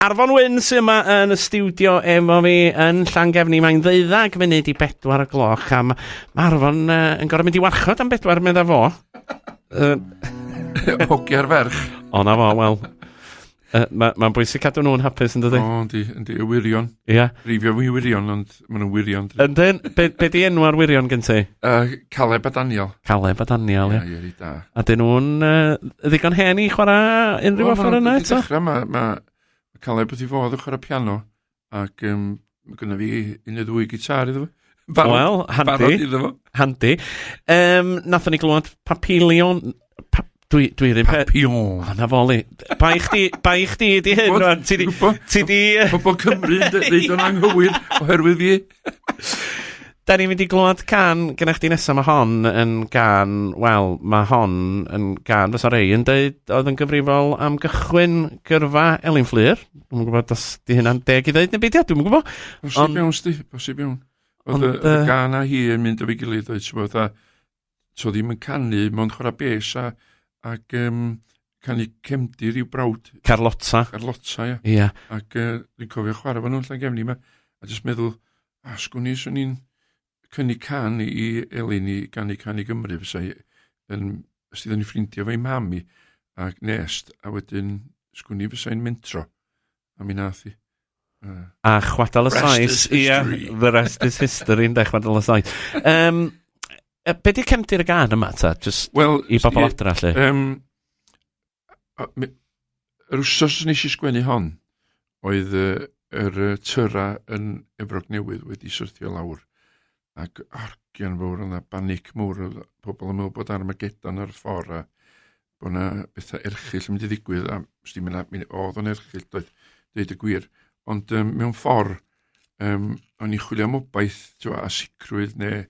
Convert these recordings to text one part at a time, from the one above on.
Arfon Wyn sy'n yma yn y studio efo fi yn Llangefni. Mae'n ddeuddag munud i bedwar y gloch a mae ma Arfon uh, yn gorau mynd i warchod am bedwar, medda fo. Uh, Hogiau'r ferch. O na fo, wel. Uh, Mae'n ma bwysig cadw nhw'n hapus yn dydy. O, yndi, yndi, y wirion. Ia. Yeah. Rifio fi wirion, ond... Maen nhw'n wirion. dydyn? Yndyn? Be, be di enw'r wirion gen ti? Uh, Caleb a Daniel. Caleb a Daniel, ie. Ie, ie, rhi da. A dyn nhw'n uh, ddigon hen i chwarae unrhyw offer yna eto? Dechrau, mae ma Caleb wedi fod yn chwarae piano, ac um, mae gynnu fi un neu ddwy gitar iddo fo. Barod, Wel, handi. Barod iddo fo. Handi. Um, nathon ni glywed papilion... Pa, Dwi, dwi ddim... Papillon. O, na foli. Bai chdi, bai chdi di hyn rwan. Ti di... Ti di... Pobl Cymru yn dweud o'n anghywir oherwydd fi. Da ni'n mynd i glwad can gyda chdi nesaf. Mae hon yn gan... Wel, mae hon yn gan... Fysa rei yn dweud oedd yn gyfrifol am gychwyn gyrfa Elin Fflur. Dwi'n gwybod os di hynna'n deg i ddeud neu beidio. Dwi'n gwybod. Bosib iawn, sti. Bosib iawn. Oedd y gan a hi yn mynd o fi gilydd, oedd ti'n bod, so ddim yn canu, mae'n chwarae bes a, ac um, canu cefndir i'w brawd. Carlotta. Carlotta, ia. Ia. Ac uh, dwi'n cofio chwarae fan nhw'n llan gefni yma, a jyst meddwl, a sgwn i, swn i'n cynnig can i Elin i ganu can i Gymru, fysa hi yn, os ti ddyn ni ffrindiau fo'i mam i, ac nest, a wedyn sgwn i fysa hi'n mentro. A mi nath i. Uh. A chwadal y saes. Ia, the rest is history, ynda, chwadal y saes. Um, be di cefndir y gan yma, ta? Just well, i bobl adra, lle. Um, yr wsos nes i sgwennu hon, oedd yr uh, tyra yn Efrog Newydd wedi syrthio lawr. ac argian fawr yna, banic mawr, oedd pobl yn meddwl bod Armageddon ar y ffordd a bod yna bethau erchill yn mynd i ddigwydd, a sti mynd at, oedd o'n erchill, doedd, dweud y gwir. Ond um, mewn ffordd, um, o'n i'n chwilio am obaith, twa, a sicrwydd, neu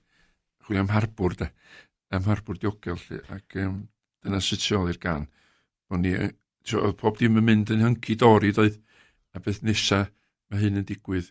chwilio am harbwr, de, am harbwr diogel, lle, ac um, dyna sut sy'n i'r gan. O'n i, oedd pob dim yn mynd yn hynci dori, doedd, a beth nesaf mae hyn yn digwydd,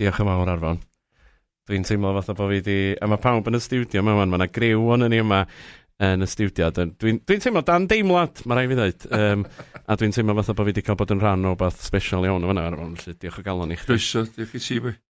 Diolch yn fawr, Arfon. Dwi'n teimlo fatha bod fi wedi... A mae pawb yn y stiwdio yma, man. Mae yna griw o'n ni yma yn y stiwdio. Dwi'n dwi, dwi teimlo dan deimlad, mae rai fi ddweud. Um, a dwi'n teimlo fatha bod fi wedi cael bod yn rhan o beth special iawn o fyna, Arfon. Felly, diolch o galon i chdi. Croeso, diolch i ti, boi.